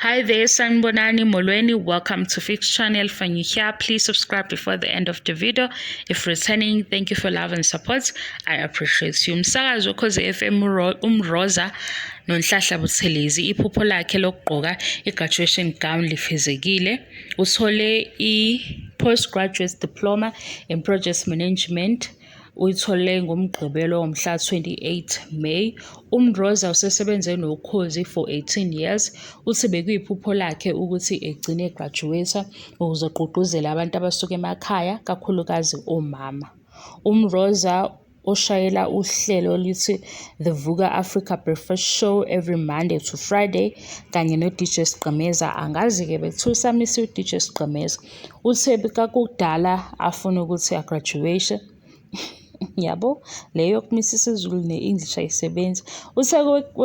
Hi there, Sanbonani Molweni. Welcome to Fix Channel. If you're here, please subscribe before the end of the video. If returning, thank you for love and support. I appreciate you. Msakazi wokhoze FM umroza nonhlahla buthelezi iphupho lakhe lokugqoka i-graduation gown lifezekile. Uthole i-postgraduate diploma in project management Uyithole ngoMgqibelo womhla 28 May. UMroza usesebenze noKhozi for 18 years. Uthi bekuyiphupho lakhe ukuthi egcine egraduate ukuze agqugquzele abantu abasuka emakhaya kakhulukazi omama. UMroza oshayela uhlelo oluthi The Vuka Africa Breakfast Show every Monday to Friday kanye noDJ Sgqemeza angazi-ke bekuthiwa usamisa uDJ Sgqemeza. Uthe kakudala afuna ukuthi agraduate yabo leyo yokumisa isiZulu ne-English ayisebenzi. Uthe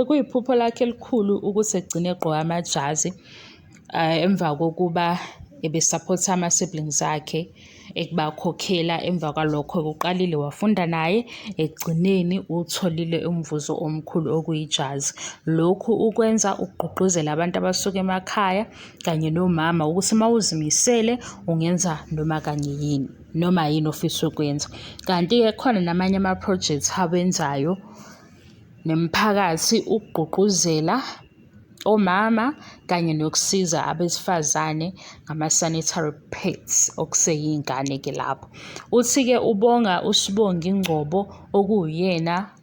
kuyiphupho lakhe elikhulu ukuthi egcine egqoka amajazi eh, emva kokuba ebesaphotha ama-siblings akhe ekubakhokhela emva kwalokho kuqalile wafunda naye ekugcineni utholile umvuzo omkhulu okuyijazi lokhu ukwenza ukugqugquzela abantu abasuka emakhaya kanye nomama ukuthi uma uzimisele ungenza noma kanye yini noma yini ofisa ukwenza kanti-ke khona namanye ama-project awenzayo nemiphakathi ukugqugquzela omama kanye nokusiza abesifazane ngama-sanitary pads okuseyingane-ke lapho uthi-ke ubonga usibonga ingcobo okuwuyena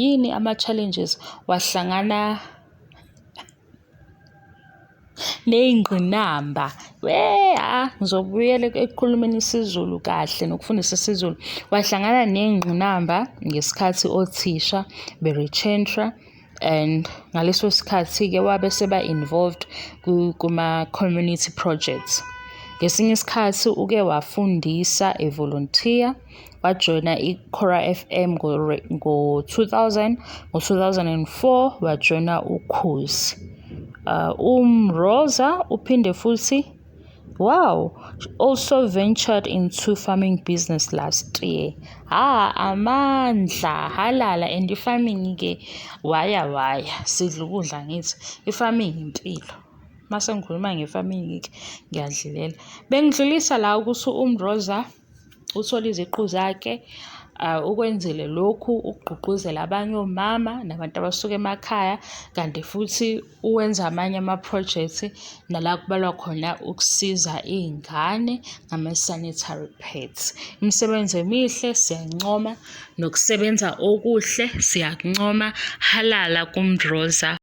Yini ama-challenges wahlangana ney'ngqinamba we ah ngizobuyela ekukhulumeni isiZulu kahle nokufundisa isiZulu wahlangana ney'ngqinamba ngesikhathi othisha be-retrentra and ngaleso sikhathi-ke wabe seba-involved kuma-community projects ngesinye isikhathi uke wafundisa evolontiya wajoyina iCora FM ngo-2000 ngo-2004 wajoyina ukhozi uh, umroza uphinde futhi wow also ventured into farming business last year ha amandla halala and i-farming ke waya waya sidla ukudla ngithi i-farming impilo mase ngikhuluma nge-farming ngiyadlilela bengidlulisa la ukuthi umroza uthole iziqu zakhe ukwenzele lokhu ukugqugquzela abanye omama nabantu abasuka emakhaya kanti futhi uwenza amanye ama-project nala kubalwa khona ukusiza iy'ngane ngama-sanitary pads. Imisebenzi emihle siyancoma nokusebenza okuhle siyakuncoma, halala kuMdroza.